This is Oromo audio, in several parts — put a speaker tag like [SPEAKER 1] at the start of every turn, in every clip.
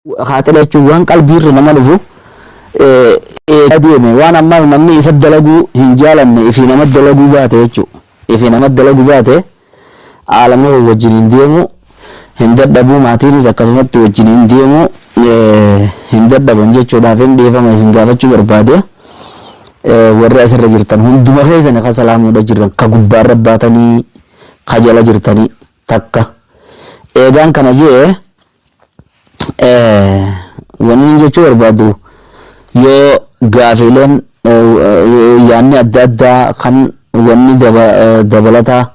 [SPEAKER 1] Kaaxila jechuun waan qalbiirra nama dhufu eegaa deeme waan ammaas namni isa dalaguu hin jaalanne ifii nama dalaguu baate jechuu ifii nama dalagu baate aalamni kun wajjin hin deemu hin dadhabuu maatiinis akkasumatti wajjin hin deemu hin dadhaban jechuudhaaf hin dhiifama isin gaafachuu barbaade warri asirra jirtan hunduma keessani ka salaamuudha jiran ka gubbaarra baatanii ka jala jirtanii takka eegaan kana jee Wanni jechuu barbaadu yoo gaafiileen yaanni adda addaa kan wanni dabalataa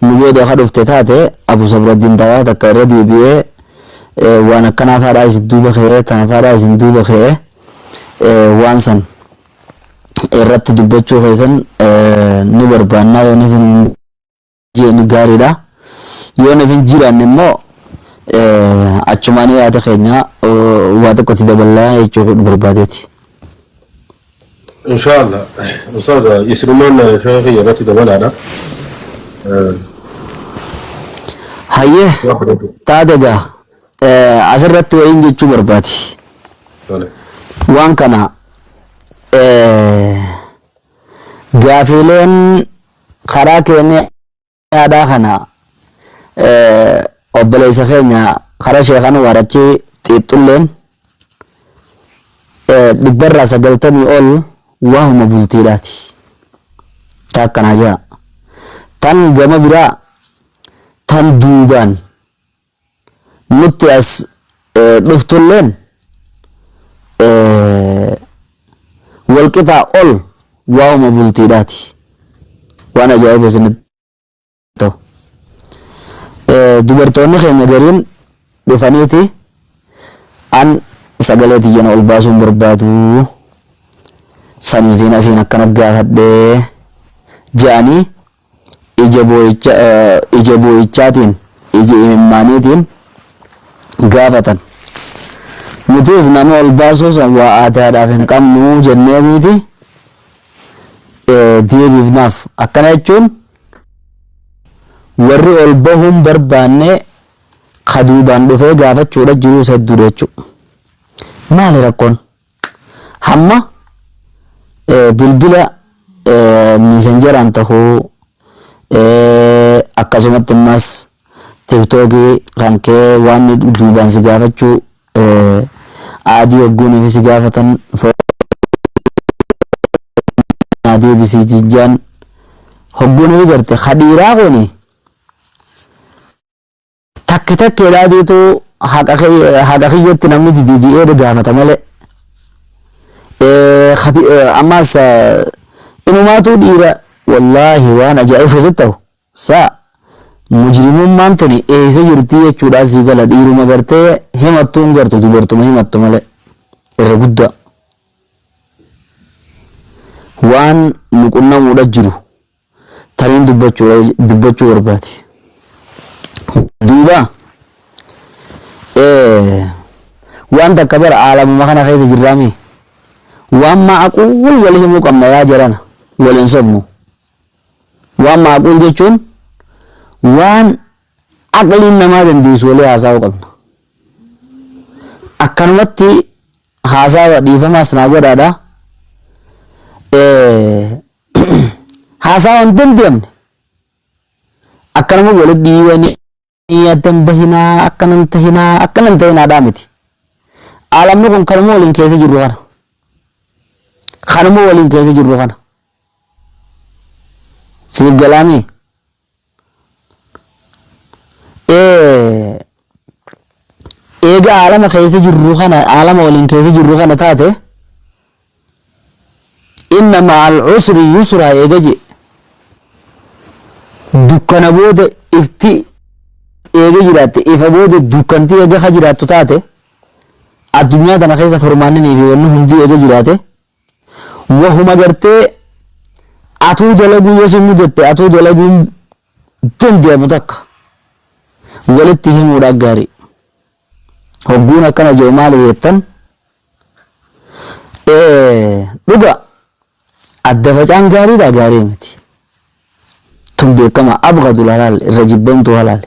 [SPEAKER 1] nu booda ka dhufte taate Abu Sabraddiin taraa takka irra deebi'ee waan akkanaa faadhaa isin duuba ka'ee tana faadhaa isin duuba ka'ee waan san irratti dubbachuu keessan nu barbaannaa yoo ni jeenu gaariidha. Yoo nuuf hin jiraanne immoo achumaan yaada keenya waa tokkotti dabalaa jechuu barbaadeeti.
[SPEAKER 2] Inshaallah. Ustaaz isirumaan sheekh kiyya irratti dabalaadha.
[SPEAKER 1] Hayyee taate egaa asirratti wayiin jechuu barbaadi. Waan kana gaafiileen Karaa Keeniyaadhaa kana obboleessa keenya karaa Sheekh Anwaar achi xiixxulleen dhibbarraa sagaltamii ol waahuma bultiidhaati. Ta akkanaa jira. Tan gama biraa tan duubaan Nutti as dhuftulleen walqixaa ol waa'uma bultiidhaati. Waan ajaa'iba isinitti ta'u. Dubartoonni keenya gariin dhufaniiti an sagalee tiyya na ol baasuun barbaadu saniifiin asiin akkana gaafadhe je'anii Ija boo'icha, ija boo'ichaatiin, ija imimmaaniitiin gaafatan. Nutis nama ol baasuu san waa aadaadhaaf hin qabnu jenneetiiti deebiifnaaf. Akkana jechuun warri ol bahuun barbaanne ka duubaan dhufee gaafachuudha jiruus hedduudha jechuudha. Maali rakkoon? Hamma bilbila miisanjaraan tahuu akkasumatti ammas tiktookii kan kee waan duubaan si gaafachuu aadii hogguunii fi si gaafatan naa deebisii jijjaan hogguunii garte kadhiiraa kuni Takke takkeedhaa deetuu haqa kiyya- haqa kiyyatti namni didee ji'eera gaafata malee. Eh, habi- eh, Ammaas eh, inumaatuu dhiira wallaahi waan ajaa'iba sitti ta'u. Saa mujrimummaan tuni eessa jirti jechuudhaa sii gala dhiiruma gartee himattuu hin gartu dubartuma himattu malee irra guddaa. Waan nu qunnamuudha jiru taniin dubbachuu barbaade. Duuba waan takka bara aalamuma kana keessa jirraame waan maaquul wal himuu qabna yaa jarana wal hin sobnu. Waan maaquul jechuun waan aqliin namaa dandeessu walii haasa'uu qabna. Akkanumatti haasawa dhiifamaas naa godhaadha. haasaa waan danda'amne akka nama walitti dhiibanii addan bahinaa akkanan tahinaa akkanan tahinaadhaa miti. Aalamni kun kanuma waliin keessa jirru kana. Kanuma waliin keessa jirru kana. Siif galaamee. eega aalama keessa jirru kana aalama waliin keessa jirru kana taate inna ma'al usri yusra eega je dukkana booda ifti eega jiraatte ifa booda dukkanti eega ka jiraattu taate addunyaa tana keessa furmaanninii fi wanni hundi eega jiraate Wahuma gartee atuu dalaguu yoo si mudatte atuu dalaguun dandeamu takka walitti himuudha gaarii. Hogguun akkana je'u maali heettan? Dhuga adda facaan gaariidha gaarii miti. Tun beekama abgadul halaal irra jibbamtuu halaali.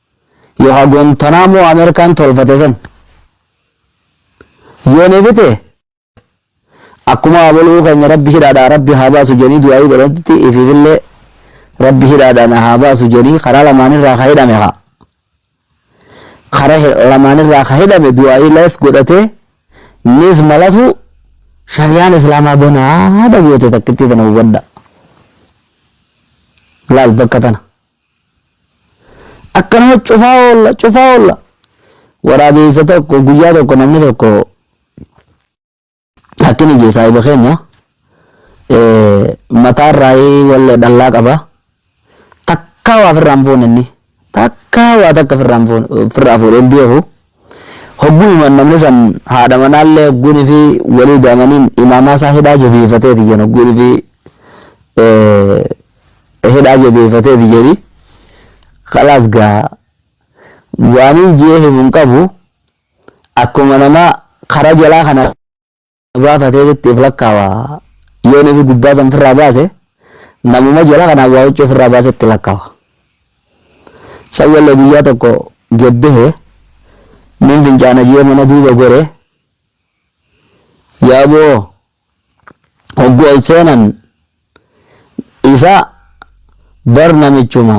[SPEAKER 1] Yo ha Guantanamo American tolfate san yo nefi te akkuma aboluu keenya rabbi hidhaadhaa rabbi haa baasu jenii du'aayii godhatti ififille rabbi hidhaadhaa na haa baasu jenii karaa lamaanirraa ka hidhame haa karaa lamaanirraa ka hidhame du'aayii lees godhatee nis malatu shariyaan islaamaa banaa haadha goote takkittii tana hubadha laal bakka tana Akkanuma cufaa oolla cufaa oolla. Waraabeessa tokko guyyaa tokko namni tokko akkini jee saahiba keenya mataarraa wallee dhallaa qaba. Takkaa waa firraan fuune inni. Takkaa waa takka firraan fuune firraa fuudhee hin beeku. Hogguu himan namni san haadha manaallee hogguu nifi waliid amaniin imaamaa isaa hidhaa jabeeffateeti jedhan hogguu nifi hidhaa jabeeffateeti jedhi khalaas gaa waaniin jee himun qabu akkuma namaa karaa jalaa kana baafatee jetti if lakkaawa yoo nafi gubbaa san firraa baase namuma jala kanaan waa huccuu firraa baase itti lakkaawa san wallee guyyaa tokko gebbehe nin fincaana jee mana duuba gore yaaboo hoggu ol seenan isa bar namichuma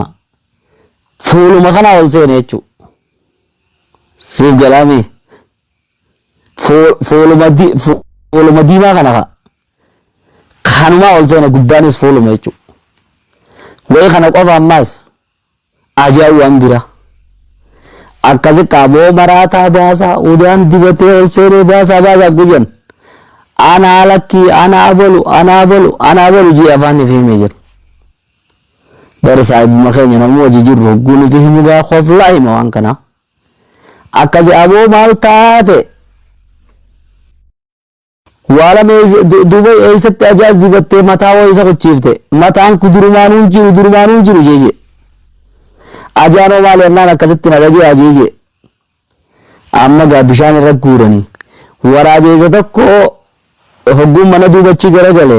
[SPEAKER 1] fuuluma kana ol seene jechuu siif galaamii Foo- fooluma di- fo- fooluma diimaa kana ka kanumaa ol seena gubbaanis fooluma jechuudha. Wayi kana qofa ammaas ajaa'ibu waan bira. Akkasi qaaboo maraataa baasaa udaan dibatee ol seenee baasaa baasaa guyyan. Anaa lakkii anaa bolu anaa bolu anaa bolu jii afaan ifi himee jira. Bari saahibuma keenya namuu hojii jirru hogguu nuti himu gaa koflaa hima waan kanaa. Akkasi aboo maal taate. Waalam Dubai eessatti ajaas dibattee mataa wayii isa kuchiifte mataan ku durumaanuu hin jiru durumaanuu hin jiru jeeje ajaanoo maali annaan akkasitti na dhagee ajeeje amma gaa bishaan irra guuranii waraabeessa tokko hogguun mana duubachii garagale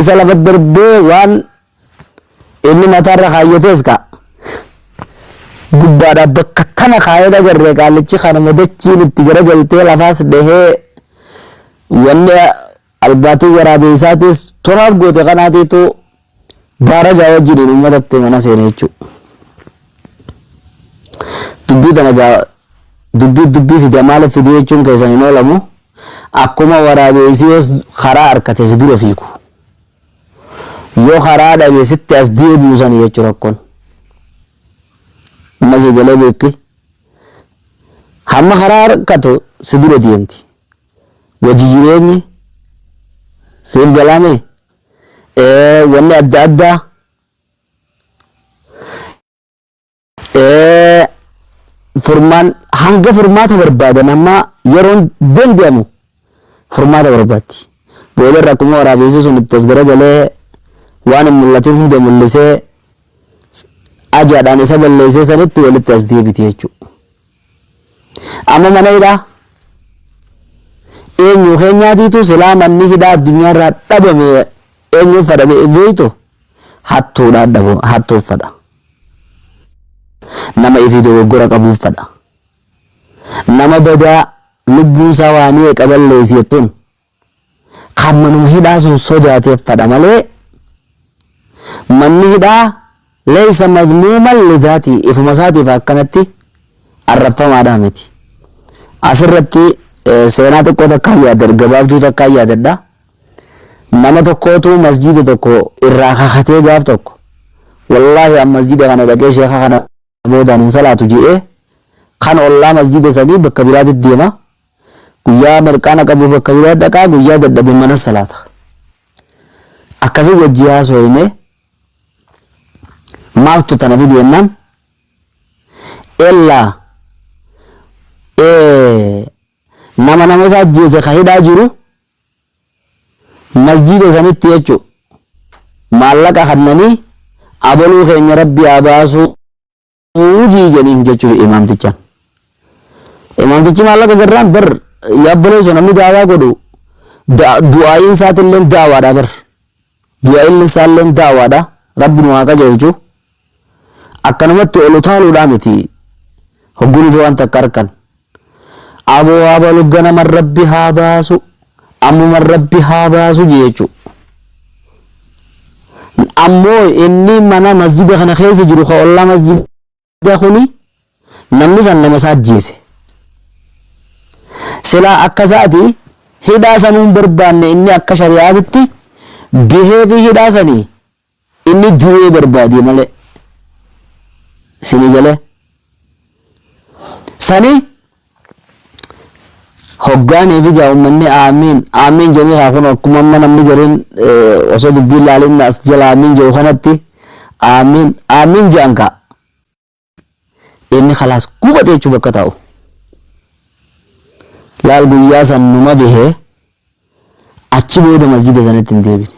[SPEAKER 1] Isa lafa darbee waan inni mataarra kaayyatees ka gubbaadhaa bakka tana kaayee dhagarree qaallichi kanuma dachiin itti garagaltee lafaas dhahee wanni albaatiin waraabeessaatiis toraaf goote kanaatiitu baaragaa wajjiniin uummatatti mana seene jechuudha. Dubbii tana gaa dubbii dubbii fide maaliif fide jechuun keessan hin oolamu. Akkuma waraabeesii yoo karaa arkate si dura fiigu. Yoo karaa dhabe sitti as deebi'u sani jechu rakkon. Amma si galee beekki. Hamma karaa arkatu si dura deemti. Wajji jireenyi siif galame wanni adda addaa Eh, furmaan hanga furmaata barbaadan amma yeroon danda'amu furmaata barbaaddi. Booda irra akkuma waraabessi sun itti as garagalee waan hin mul'atin hunda mul'isee ajaadhaan isa balleessee sanitti walitti as deebiti jechuudha. Amma mana hidhaa eenyu keenyaatiitu silaa manni hidhaa addunyaarraa dhabame eenyuuf fadha beektu hattuudhaan dhabu hattuuf fadha. Nama ifii dogoggora qabuuf fadha. Nama badaa lubbuun isaa waa meeqa balleessi jettuun kan manuma hidhaa sun sodaateef fadha malee manni hidhaa leeysa madmuuman lidaatii ifuma isaatiif akkanatti arrabfamaadhaa miti. Asirratti seenaa xiqqoo takkaan yaadadha gabaabduu takkaan yaadadha. Nama tokkootu masjiida tokko irraa kakatee gaaf tokko wallaahi an masjiida kana dhaqee sheeka kana boodaan hin salaatu je'ee kan ollaa masjiida sanii bakka biraatti deema guyyaa mirqaana qabu bakka biraa dhaqaa guyyaa dadhabe mana salaata akkasii wajjii haasooyne maaltu tana fide jennaan ellaa nama nama isaa ajjeese ka hidhaa jiru Masjiida sanitti jechu maallaqa kannanii abaluu keenya rabbi haa baasuu jii janiin jechufi imaamtichaan. Imaamtichi maallaqa garraan bar yaabbaloo so namni daawaa godhu du'aa'iin isaatilleen daawaadha bar. Du'ailli isaalleen da'awaadha. Rabbi nu haa qajeelchu. Akkanumatti ol utaaluudhaa miti. Hogguu nuti waan takka arkan. Aboo abalu ganaman Rabbi haa baasu, ammuman Rabbi haa baasu jeechu. N ammoo inni mana masjida kana keessa jiru ka ollaa masjida. Egaa kuni namni san nama isaa ajjeese. Silaa akka isaati hidhaa sanuu hin barbaanne inni akka shari'aatitti bihee fi hidhaa sanii inni du'ee barbaadee malee. Isinii galee? Sanii Hoggaan eefigaa ummanni aamiin aamiin jedhanii kaa kun akkuma amma namni gariin osoo dubbiin laalin as jala aamiin jedhu kanatti aamiin aamiin jedhan kaa inni kalaas gubate jechuu bakka taa'u. Laal guyyaa san numa bihee achi booda masjida sanatti hin deebine.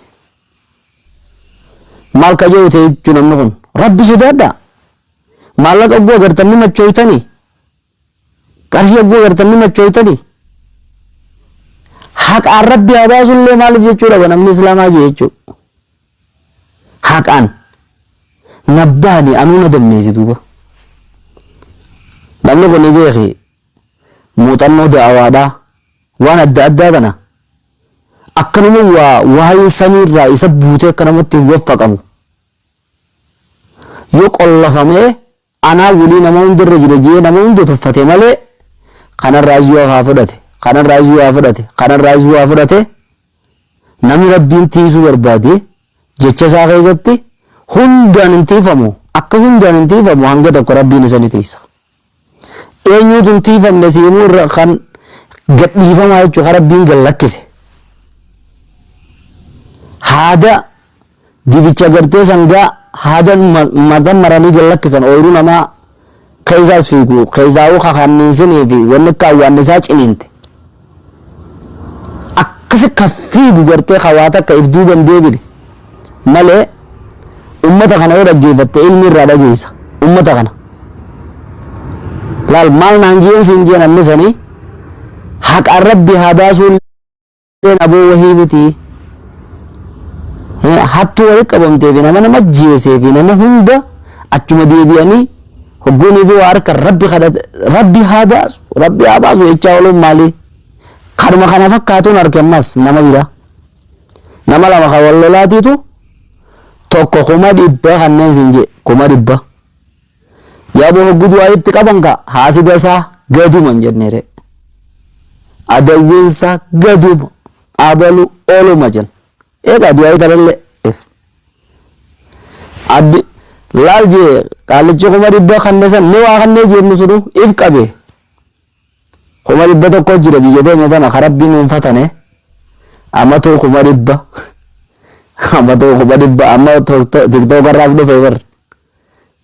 [SPEAKER 1] Maal ka jedhu ta'e jechuun namni kun rabbi sodaadhaa maallaqa ogguu agartanii machooytanii Qarshii hogguu agartan ni machooytanii? Haqaan rabbi haa baasullee maaliif jechuu dhaba namni islaamaa jee jechuu. Haqaan nabbaani anuu na dammeessi duuba. Namni kun ni beeki muuxannoo da'awaadhaa waan adda addaa tana akkanuma waa waa'ee samiirraa isa buutee akka namatti hin waffaqamu. Yoo qollafamee Anaa wly nama hunda irra jira jee nama hunda tuffate malee kanarraas yoo haa fudhate kanarraas yoo haa fudhate kanarraas yoo haa fudhate namni rabbiin tiiysuu barbaade jecha isaa keessatti hundaan hin tiiyfamu akka hundaan hin tiiyfamu hanga tokko rabbiin isa ni tiiysa eenyuutu hin tiiyfamne siimuu irra kan gadhiifamaa jechuu kan rabbiin gad lakkise haada Dibicha gartee sangaa haadan mata maranii gad lakkisan ooyruu namaa keessa as fiigu keessaawuu ka kanniinsinii fi wanni akka awwaannisaa ciniinte akkasi ka fiigu gartee ka waa takka if duuba hin deebine malee ummata kana yoo dhaggeeffatte ilmi irraa dhageessa ummata kana laal maal naan jeen siin jeen annisanii haqaan rabbi haa baasuun Leen aboo wahii miti Eh, hattuu wali qabamtee fi nama nama jeesee fi nama hunda achuma deebi'anii hogguunii fi waa harka rabbi kadhate rabbi haa baasu rabbi haa baasu jechaa ooluun maalii kanuma kana fakkaatuun harki ammas nama biraa nama lama kan wal lolaatiitu tokko kuma dhibba kanneen siin jee kuma dhibba Yabo hoggu du'aa itti qaban ka haasida isaa gaduma hin jennere. Adawwiin isaa gaduma abalu oluma jenna. Eegaa du'aa italelle if. Addi laal jee qaallichi kuma dhibba kanne san ni waa kannee jeennu sunu if qabe. Kuma dhibba tokko jira biyya teenya tana ka rabbii nuun fatane. Amatuu kuma dhibba. Amatuu kuma dhibba amma tiktook irraas dhufe bar.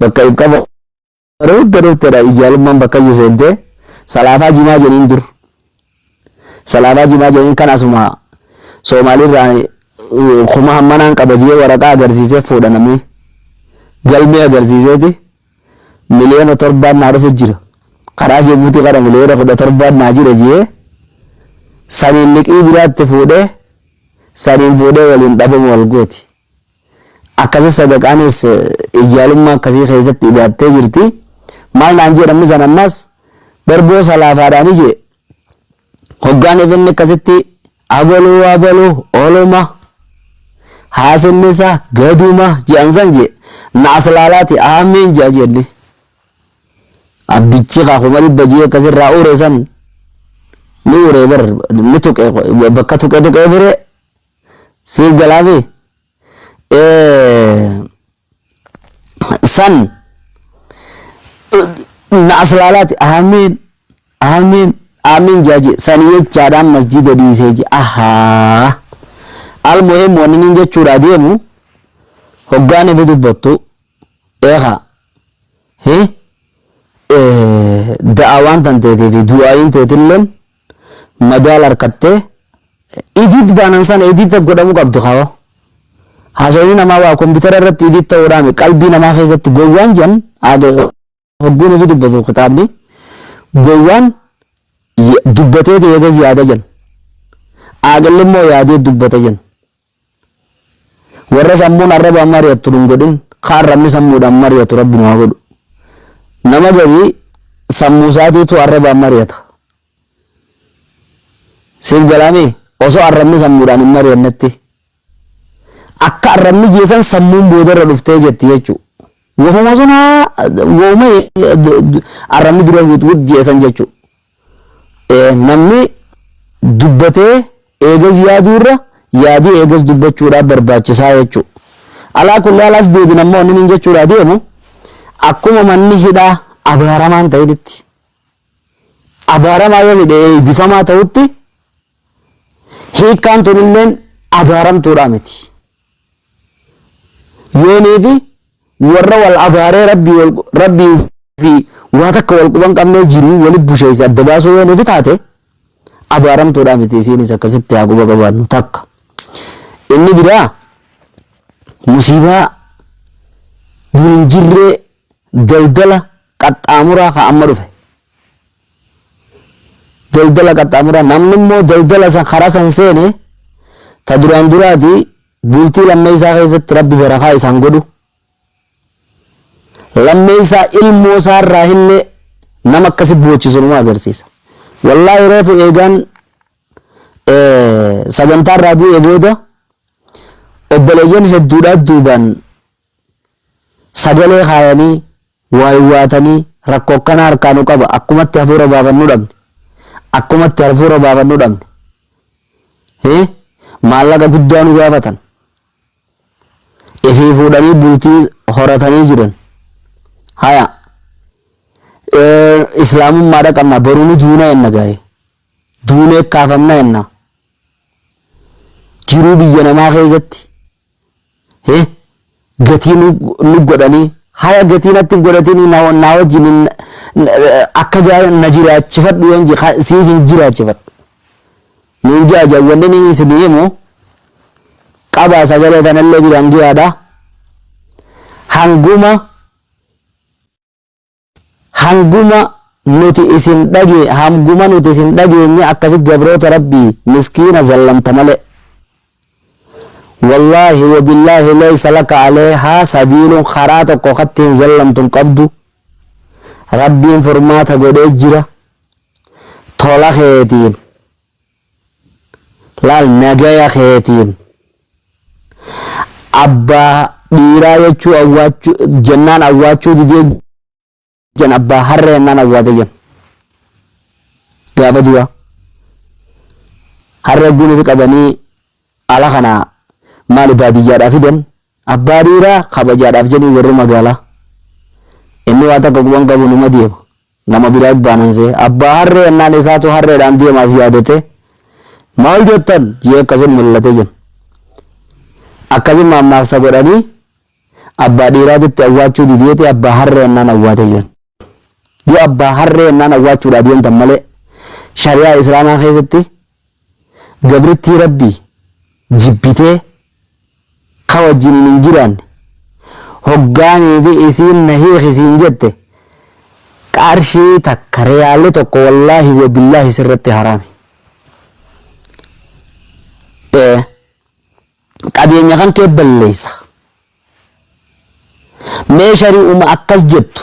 [SPEAKER 1] Bakka ibqa bareedda dhuftedha ijaalummaan bakkayyu seentee salaafaa jimaa jeniin dur salaafaa jimaa jeniin kan asuma soomaaliirraa kuma hammanaan qaba jee waraqaa agarsiisee fuudha namni galmee agarsiiseeti miliyoona torbaan naa dhufu jira karaa jebuutii kana miliyoona kudha torbaan naa jira jee saniin liqii biraatti fuudhee saniin fuudhee waliin dhabamu wal gooti. Akkasi sadaqaanis ijjaalummaa akkasii keessatti idaattee jirti. Maal naan jee namni san ammas darboo salaafaadhaani jee hoggaan ifin akkasitti abaluu abaluu oluma haasinni isaa gaduma je'an san jee na as laalaati aamiin je'a jenni. Abbichi kaa kuma dhibba jee akkasirraa uure san ni uure bar ni tuqe bakka tuqe tuqe bire siif galaafi san na aslaalaati aamiin aamiin aamiin jaaje san jechaadhaan masjida dhiisee je ahaa almuhim wanni nin jechuudhaa deemu hoggaan ifi dubbattu eeka hi da'awaan tan teetii fi du'aayiin teetilleen madaal arkatte edit baanan sana edit godhamu qabdu kawo haasawni namaa waa kombitara irratti edit ta'uudhaami qalbii namaa keessatti gowwaan jan aage hogguun ofi dubbatu kitaabni gowwaan dubbatee ta'ee gas yaada jan aaqilli immoo yaadee dubbata jan Warra sammuun arrabaan mari'attu nun godhin, ka arrabni sammuudhaan mari'atu Rabbi nu haa godhu. Nama garii sammuu isaatiitu arrabaan mari'ata. Siif galaamii? Osoo arrabni sammuudhaan hin mari'annetti. Akka arrabni jee san sammuun boodarra dhuftee jetti jechuu. Wahuma sun haa wahuma arrabni dura wixwix jee san jechuu. Namni dubbatee eegas yaaduu irra yaadee eegas dubbachuudhaa barbaachisaa jechuu. Alaa kulli haal as deebin ammoo wannin hin jechuudhaa deemu akkuma manni hidhaa abaaramaa hin ta'initti abaaramaa yoo hidhe eebbifamaa ta'utti hiikkaan tunilleen abaaramtuudhaa miti. Yoonii fi warra wal abaaree rabbii wal rabbii fi waa takka wal quban qabnee jiruu wali busheessa adda baasuu yoonii fi taate abaaramtuudhaa miti isiinis akkasitti haa quba qabaannu takka. Inni biraa musiibaa dur hin jirree daldala qaxxaamuraa ka amma dhufe. daldala qaxxaamura namni immoo daldala san karaa san seene ta duraan duraati bultii lammeeysaa keessatti rabbi barakaa isaan godhu lammeeysaa ilmoo isaa irraa illee nama akkasi boochisu nama agarsiisa wallaahi reefu eegaan sagantaa irraa bu'ee booda obboleeyyan hedduudhaa duubaan Sagalee kaayanii, waa iwwaatanii, rakko akkana harkaa nu qaba, akkumatti hafuura baafannu dhabne, akkumatti harfuura baafannu dhabne, hi, maallaqa guddaa nu gaafatan, ifii fuudhanii bultii horatanii jiran, haya, ee, islaamummaa dhaqabna, boru ni duuna enna gaa'e, duunee kaafamna enna, jiruu biyya namaa keessatti, Hee gatii nu nu godhanii haya gatii natti godhatini na na wajjin hin- n- akka jaa na jiraachifadhu yoon je ka- siis hin jiraachifadhu nuun ja'a ja'a wanni inni isin himu qabaa sagalee tanallee biraan giyaadha hanguma Hanguma nuti isin dhage hamguma nuti isin dhageenye akkasi gabroota rabbii miskiina zallamta malee wallahi wabillahi leysa laka aleeha sabiilun karaa tokko katti hin zallamtu hin qabdu rabbiin furmaata godhee jira tola keetiin Laal nagaya keetiin abbaa dhiiraa jechuu awwaachuu jennaan awwaachuu didee jan abbaa harree jennaan awwaate jan gaafa duraa harree guunifi qabanii ala kana maali baadiyyaadhaa fidan Abbaa dhiiraa kabajaadhaaf jedhii warri magaalaa. Inni waa takka quban qabu numa deema. Nama biraa ibbaanan se'e. Abbaa harree ennaan isaatu harreedhaan deemaaf yaadatee, Maal jettan? je'ee akkasin mil'ate jenna. Akkasin maammaaksa godhanii abbaa dhiiraatitti awwaachuu dideeti abbaa harree ennaan awwaate jenna. Yoo abbaa harree ennaan awwaachuudhaa deemtan malee shari'aa Islaamaa keessatti gabrittii Rabbii jibbitee ka wajjiniin hin jiraanne hoggaa niifi isiin na hiiki siin jette qarshii takka riyaalli tokko wallaahi wa billaahi sirratti haraami. Ee qabeenya kan kee balleessa. Mee shari'uma akkas jettu.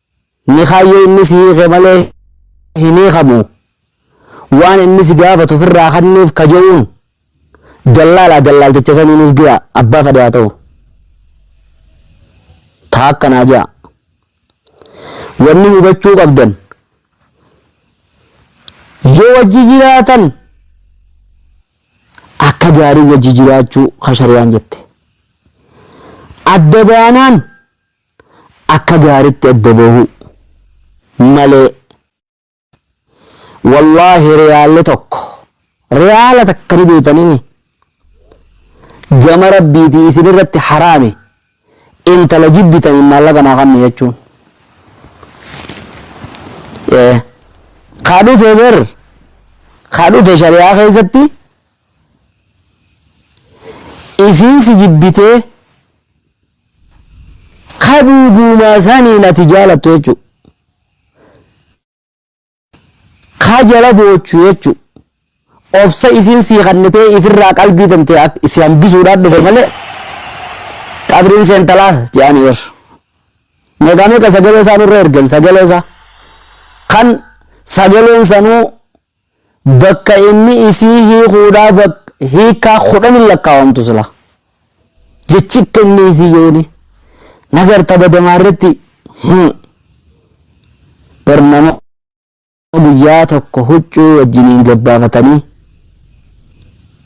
[SPEAKER 1] Ni kaayyoo inni si hiike malee hin hiikamu. Waan inni si gaafatu ofirraa kanniif ka je'uun dallaalaa dallaalticha saniinis giya abbaa fadhe haa ta'u. Taa akkanaa je'a. Wanni hubachuu qabdan yoo wajji jiraatan akka gaarii wajji jiraachuu ka shari'aan jette. Adda baanaan akka gaaritti adda bahuu malee wallaahi riyaalle tokko riyaala takka ni beeytanimi gama rabbiiti isin irratti haraami intala jibbitaniin maallaqa naa kanni jechuun ee kaa dhufe ber kaa dhufe shari'aa keessatti isiin si jibbitee Ka dhugumaa saniin ati jaalattu jechuudha. Ka jala boochu jechuudha. Obsa isiin sii kannitee ifirraa qalbii tantee akka si hambisuudhaan dhufe malee qabriin seentalaa jedhanii bar. Meeqaa meeqa sagalee isaa nurra ergan sagalee isaa. Kan sagaleen sanuu Bakka inni isii hiikuudhaa bak hiikkaa kudhanin lakkaawamtu silaa. Jechi akka inni isii yooni na garta badamaa irratti hii bar nama guyyaa tokko huccuu wajjiniin gabbaafatanii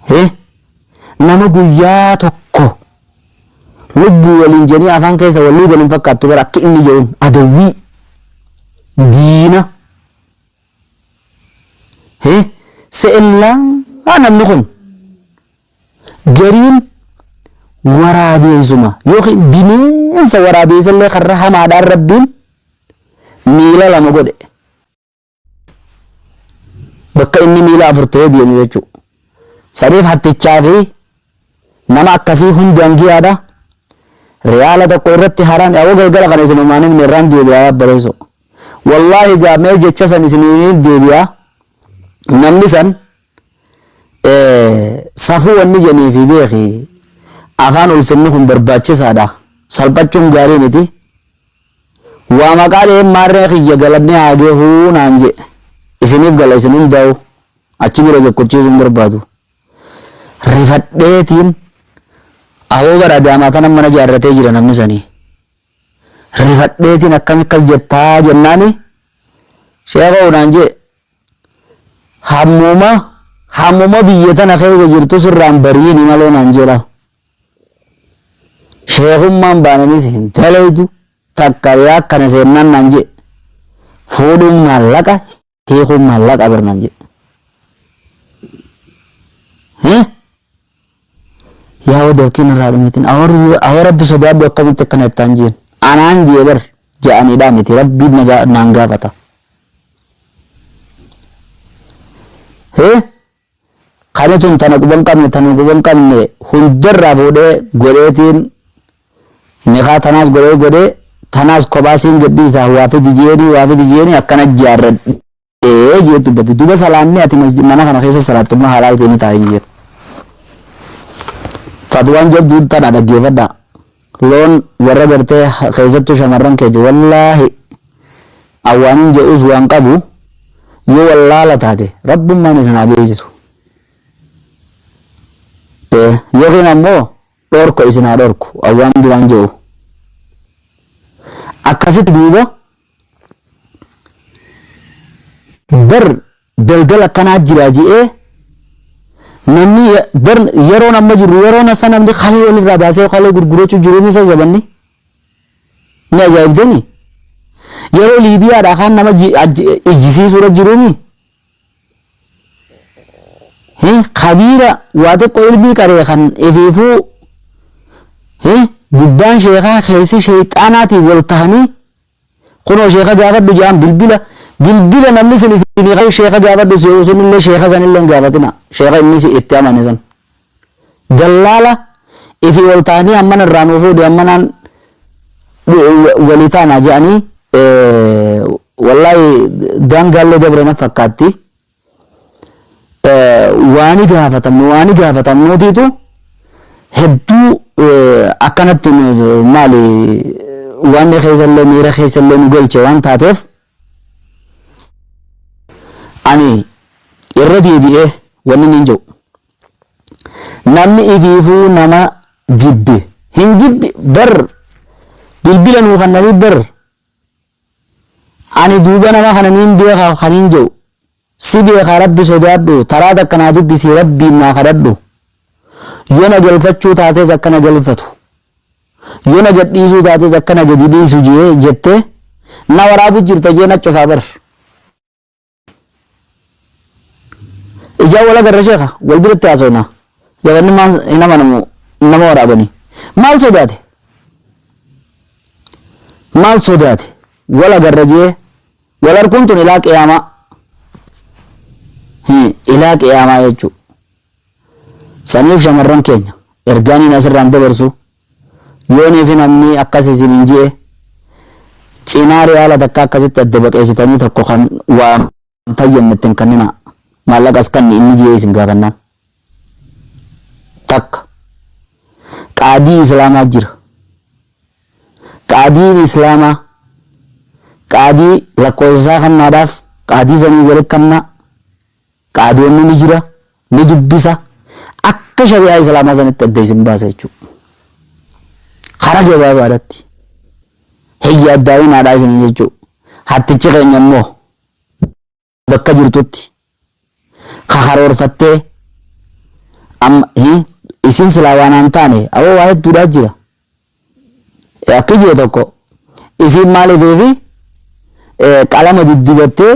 [SPEAKER 1] he nama guyyaa tokko lubbuu waliin jedhanii afaan keessa wal luugan hin fakkaattu bar akka inni yoon adawwii diina Hee se'ellaa namni kun gariin waraabeensuma yookiin bineensa waraabeessallee karra hamaadhaan rabbiin miila lama godhe bakka inni miila afur ta'ee deemu jechuu saniif hattichaa fi nama akkasii hundaan giyaadha riyaala tokko irratti haraami awwa galgala kana isin umaaniin meerraan deebi'aa bareessu Wallaahi egaa mee jecha san isiniin deebi'a namni san safuu wanni jeniifi beeki afaan ulfinni kun barbaachisaadha salphachuun gaarii miti waa maqaa dhaheen maarree kiyya galanni haa gahuu naan je isiniif gala isin hundaa'u achi bira jekkochiisuun barbaadu rifadheetiin aboo bara adaamaa kana mana jaarratee jira namni sanii. Rifadheetiin akkami akkas jettaa jennaani sheekoo naan jee hammuma hammuma biyya tana keessa jirtu sirraan bariini malee naan jedha. Sheekummaan baananis hin daleeydu takka yaa akkana seennaan naan jee fuudhuun maallaqa hiikuun maallaqa bar naan jedhe. Eh? Yaa wada yookiin irraa dhumetin awwa rabbi sodaadhu akkamitti akkana ittaan jeen. Anaan jee bar ja'aniidhaa miti rabbiin na gaa- naan gaafata. Eh? Kani tun tana quba hin qabne tanuma quba hin qabne hunda irraa fuudhee godheetiin nikaa tanaas godhee godhee tanaas kophaa siin gadhiisaa waa fidi je'eenii waa fidi je'eenii akkana jaarradhee je'ee dubbate duba salaanni ati masji- mana kana keessa salaattu immoo halaal seeni taa'in je'e fatwaan jabduun tana dhaggeeffadhaa Loon warra gartee keessattuu shamarran keenya wallaahi an waanin je'uus waan qabu yoo wallaala taate rabbummaan isin haa beeysisu Eh, yookiin ammoo dhorko isin haa dhorku an waan biraan je'u akkasitti duuba Bar daldala akkanaa jira je'ee namni bar yeroon amma jirru yeroon assa namni kalee walirraa baasee kalee gurgurachuu jiru misa zabanni ni ajaa'ibdanii yeroo liibiyaadhaa kaan nama ijjisiisuudha jiruumi Hii kabiira waa xiqqoo ilmii qaree kan ifiifuu hii gubbaan sheekaa keessi sheexaanaatiin wal tahanii kunoo sheeka gaafadhu jaan bilbila bilbila namni sin isinii qaree sheeka gaafadhu si yoo sunillee sheeka sanillee hin gaafatina sheeka inni itti amane san. Gallaala ifii ol taanii ammana irraa nuu fuudhi ammanaan walii taana je'anii wallaahi daangaallee dabre naf fakkaatti. Waani gaafatamnu waani gaafatamnuutiitu hedduu akkanatti maali waanni keessallee miira keessallee nu galche waan taateef. Ani irra deebi'ee wanni niin je'u namni ifiifuu nama jibbe hin jibbi bar bilbila nuu kannanii bar ani duuba nama kana niin beekha kaniin je'u Si beeka rabbi sodaadhu taraa takka naa dubbisi rabbiin naa kadhadhu yo na galfachuu taates akka na galfatu yo na gadhiisuu taates akka na gadi dhiisu jee jette na waraabu jirta jee na cufaa bar ijaa wal agarra sheeka wal biratti haasofna zabanni maan hin amanamu nama waraabani maal sodaate maal sodaate wal agarra jee Wal arguun tun ilaa qiyaamaa. Hii, ilaa qiyaamaa jechuu. Saniif shamarran keenya ergaaniin asirraan dabarsu yoonii fi namni akkas isin hin ji'e cinaa riyaala takka akkasitti adda baqeessitanii tokko kan waan fayyadne ittiin kennina maallaqas kanni inni ji'ee isin gaafannaan Takka. Qaadii Islaamaa jira. Qaadiin Islaamaa qaadii lakkoofsa isaa kannaadhaaf qaadii sanii walitti kanna qaadiyoonni ni jira ni dubbisa akka shari'aa Islaamaa sanitti adda isin baasa jechuudha. Karaa gabaabaadhaatti hin yaaddaa'inaadhaa isin jechuudha. Hattichi keenya immoo bakka jirtutti ka karoorfattee amma hin isiin silaa waan aan taane aboo waa hedduudhaa jira akki jee tokko isiin maalifiifi qalama diddibattee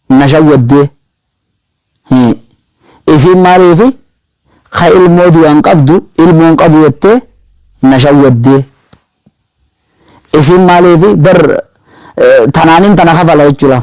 [SPEAKER 1] na shawwaddee isiin maaliifi ka ilmoo du'aan qabdu ilmoon qabu jettee na shawwaddee isiin maaliifi bar tanaanin tana kafala jechuudha.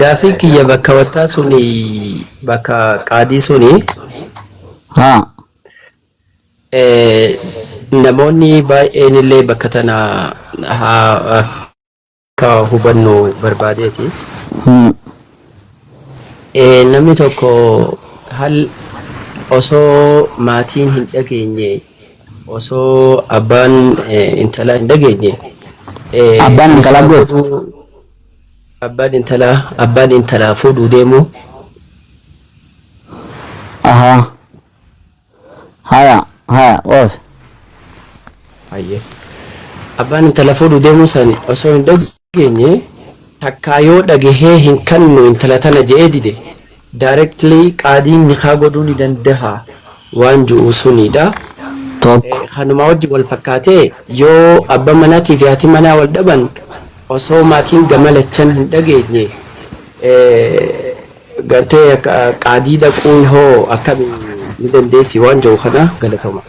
[SPEAKER 3] Gaafiin kiyya bakka wattaa suni bakka qaadii suni Haa. eh, namoonni baay'een illee bakka tana haa akka hubannu barbaadeeti. Hmm. Eh, namni tokko hal osoo maatiin hin dhageenye Osoo abbaan intalaa hin dhageenye Abbaan
[SPEAKER 1] intalaa isaa goof. godhuu abbaan intalaa
[SPEAKER 3] abbaan intalaa fuudhuu deemuu Ahaa.
[SPEAKER 1] Haya haya oof. hayyee
[SPEAKER 3] abbaan intala fuudhuu deemuu sani osoo hin dhageenye dhageenye takkaa yoo dhagahee hin kannu intala tana je'ee dide directly qaadiin nikaa godhuu ni dandaha waan ju'u suniidha. 1. Kanumaa wajji wal fakkaatee yoo abba manaatii fi haati manaa wal dhaban osoo maatiin gama lachan hin dhageenye gartee qaadii dhaquun hoo akkami ni dandeessi waan ju'u kana galatoma.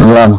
[SPEAKER 3] 2.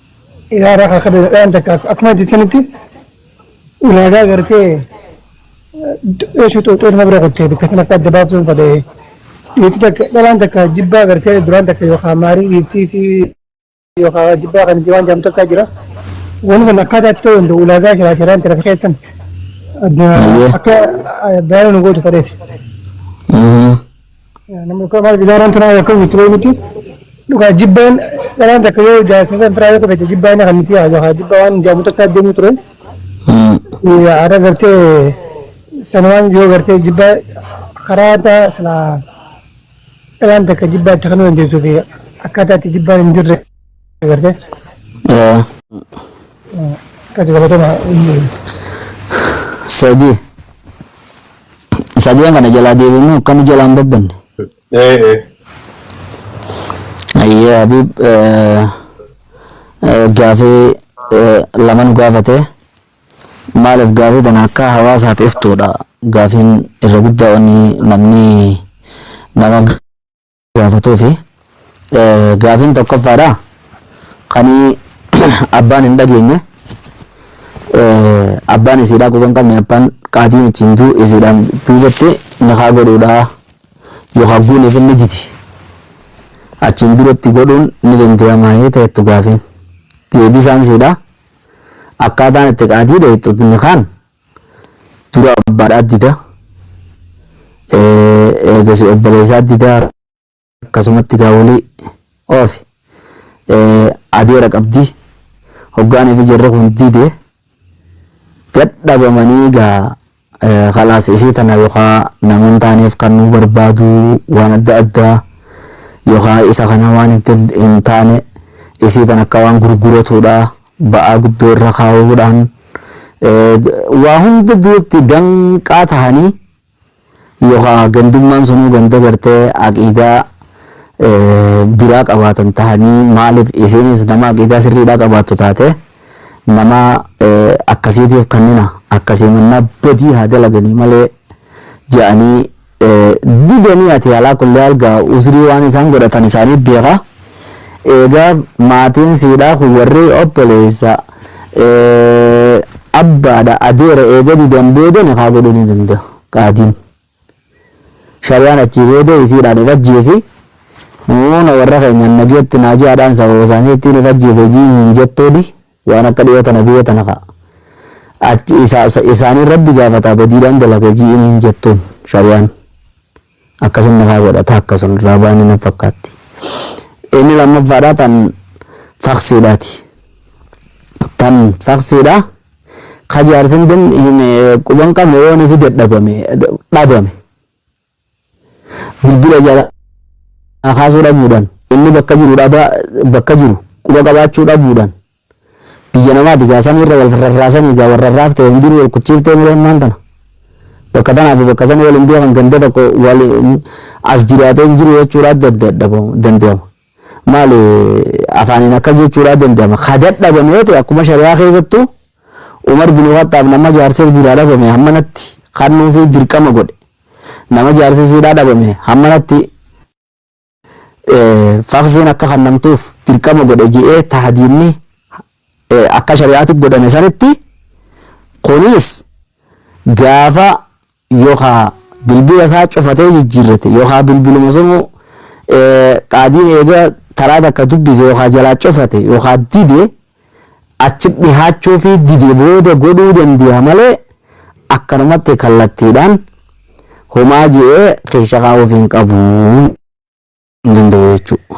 [SPEAKER 4] Yaa raqa akka beeladhaan takka akkuma jettanitti ulaagaa gartee dheeshuu xooxootuma bira qottee bakka sana akka adda baaftuun fadhee dhiirti takka dhalaan takka jibbaa gartee duraan takka yookaan maarii dhiirtii fi yookaan jibbaa kan waan jaamtu akka jira. Wanni sana akkaataa itti ta'uu danda'u ulaagaa shiraa shiraan tirafi keessan adda akka baay'ee nu gootu fadheeti. Namni kun maal gidaaraan turaa yoo kan turee miti. Dhugaa jibbaan dharaan takka yoo jaarsisaan turaa yoo qabate jibbaa inni kan miti haa jibbaa waan jaamu takka adeemu ture. Haadha gartee sanumaan yoo gartee jibbaa karaa taa silaa dharaan takka jibbaa itti kan dandeessuu fi akkaataa itti jibbaan hin jirre. Gartee? Eh, Qaci galatoma.
[SPEAKER 1] Sadii. Sadeen kana jalaa deebiinuu akka nu jalaa hin babbanne. Eh, eh. Ayyee Habiib eh, eh, gaafii eh, lama nu gaafate. Maaliif gaafii tana akka hawaasaaf iftuudha. Gaafiin irra guddaa wanni namni nama gaafatuufi gaafiin tokkoffaadha kanii abbaan hin dhageenye abbaan isiidhaa quba hin qabne abbaan qaatiin ittiin duu isiidhaan duubatti nikaa godhuudhaa yookaan guuniif inni didi achiin duratti godhuun ni danda'amaa yoo ta'ettu gaafiin deebisaan siidhaa akkaataan itti qaatii dheettu nikaan dura abbaadhaa dida eegasi obboleessaa dida akkasumatti gaawolii oofi adeera qabdi hoggaanii fi jarri kun dide dadhabamanii gaa kalaas isii tana yookaa namoon taaneef kan nu barbaadu waan adda addaa yookaa isa kana waan hin taane isii tana akka waan gurguratuudha ba'aa guddoo irra kaa'uudhaan waa hunda duratti danqaa tahanii yookaa gandummaan sanuu ganda gartee aqiidaa biraa qabaatan tahanii maaliif isiinis nama aqiidaa sirriidhaa qabaattu taatee nama akkasiitiif kannina akkasii mannaa badii haa dalaganii malee ja'anii Didanii ati alaa kulli haal gaa uzrii waan isaan godhatan isaanii beeka eegaa maatiin siidhaa kun warri obboleessa abbaadha adeera eega didan booda nikaa godhuu ni danda'a qaadiin shariyaan achii booda isiidhaan hin ajjeesi muuna warra keenyaan nageetti naajiyaadhaan sababa isaanii ittiin hin ajjeese jiin hin jettooni. Waan akka dhiyoo tana biyya tana ka, ati isa, isa, isaaniin Rabbi gaafataa badiidhaan dalaga ji'iin hin jettuun shari'aan. Akkasin nikaa godha taakka sun irraa baane naf fakkaatti. Inni lammaffaadhaa tan faksiidhaati. Tan faksiidhaa ka jaarsin den hin quban qabne yoo nifi dadhabame, dhabame. Bilbila jalaa kaasuu dhabuudhaan, inni bakka jiru dhabaa bakka jiru quba qabaachuu dhabuudhaan biyya namaati gaa samiirra wal rarraasanii gaa wal rarraaf ta'e hundinuu wal kuchiiftee malee ammaan tana bakka tanaa fi bakka sanii wal hin beekan ganda tokko wal as jiraatee hin jiru jechuudha adda adda danda'ama. Maali afaaniin akkas jechuudhaa danda'ama. Ka dadhabame yoo ta'e akkuma shari'aa keessattu Umar bin Khaxxaab nama jaarsa biraa dhabame hammanatti kannuufi dirqama godhe. Nama jaarsi isiidhaa dhabame hammanatti faksiin akka kannamtuuf dirqama godhe je'ee tahdiidni akka shari'aatti godhame sanitti kunis gaafa yookaa bilbila isaa cufatee jijjiirrate yookaa bilbiluma sunuu qaadiin eega taraa takka dubbise yookaa jalaa cufate yookaa dide achi dhihaachuu fi dide booda godhuu dandeenya malee akkanumatti kallattiidhaan homaa je'ee keessa kaa'uuf hin qabu hin danda'u jechuudha.